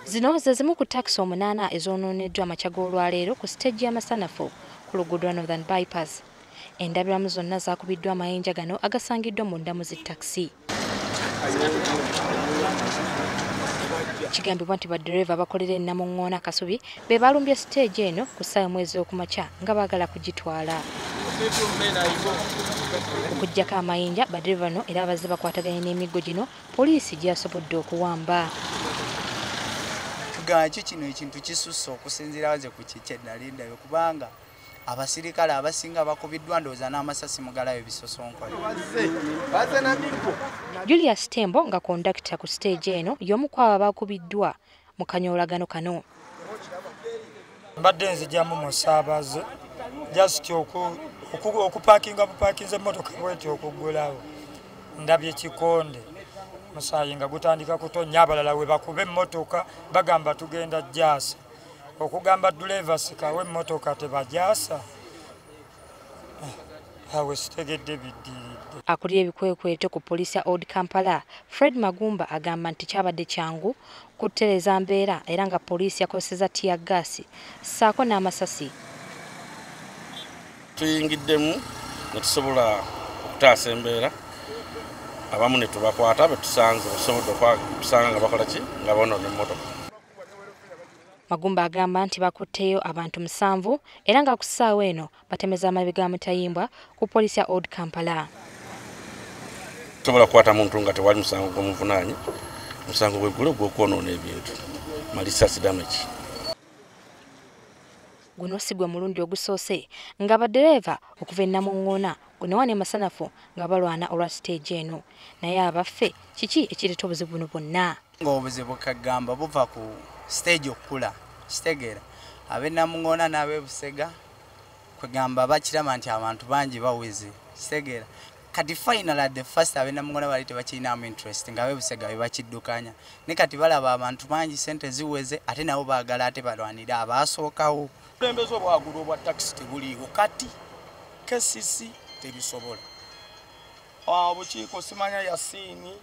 Zino ze zimu ku takisi omunaana ezoononeddwa amakya g'olwaleero ku siteegi y'amasanafu ku luguudo lwa Northern Bypass. Endabiramu zonna zaakubiddwa amayinja gano agasangiddwa mu ndamu zi takisi. Kigambibwa nti baddereeva abakolera e Namuŋŋoona Kasubi be baalumbye siteegi eno ku ssaawa emu ez'okumakya nga baagala kugitwala. okujjako amayinja badiri bano era abazze bakwataganye n'emiggo gino Poliisi gyasobodde okuwamba. Tugamba ki kino ekintu kisusse okusinziira waze ku kikye ddala endayo kubanga abasirikale abasinga bakubiddwa ndowooza n'amasasi mugalayo bisosonkole julius tembo nga kondakita ku siteegi eno y'omu ku abo abakubiddwa mu kanyoolagano kano mbadde nzijamu mu saabaze just okupakinga bupakinze emmotoka bweti okuggulawo ndabye kikonde musaayi nga gutandika kutonnya abalala we bakuba emmotoka bagamba tugenda jaasa okugamba duleeva sikawo emmotoka tebajaasa awe sitegedde biddiridde akulira ebikwekweto ku poliisi ya old kampala fred magumba agamba nti kyabadde kyangu kutereeza mbeera era nga poliisi yakozeseza tiya gaasi ssaako n'amasasi tuyingiddemu ne tusobola okutaasa embeera abamu ne tubakwata betusanze basobodde okusanga nga bakola ki nga bonoona emmotoka Magumba agamba nti bakutteyo abantu musanvu era nga ku ssaawa eno batemeza amabi ga mutayimbwa ku poliisi ya old kampala tosobola kukwata muntu nga tewali musango gwomuvunaanyi musango gweggulo gwokwonoona ebintu malisasi damage guno si gwe mulundi ogusoose nga baddereeva okuva ennamuŋŋoona gunewa ne masanafu nga balwana olwa siteegi eno naye abaffe kiki ekireeta obuzibu buno bwonna ng'obuzibu kagamba buva ku stage okukula kitegeera abenamuŋona n'abebusega kwegamba bakiraba nti abantu bangi bawizi kitegeera kati final at the first abenamuŋona bali tebakirinamu interest nga abebusega bebakiddukanya ne kati balaba abantu bangi sente ziweze ate nabo baagala ate balwanire abaasookawo obukulembeze obwagulu obwa takisi tebuliiwo kati kcc tebisobola obukiiko simanya yasiini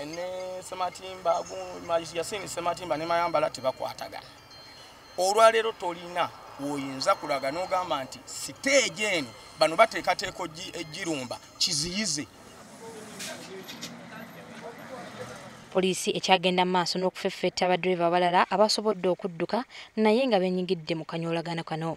ne sematimba yasini sematimba ne mayambala tebakwatagana olwaleero tolina woyinza kulaga n'ogamba nti siteegi eno bano bateekateeka ejirumba kiziyize poliisi ekyagenda mu maaso n'okufeffetta badriva abalala abasobodde okudduka naye nga benyigidde mu kanyolagano kano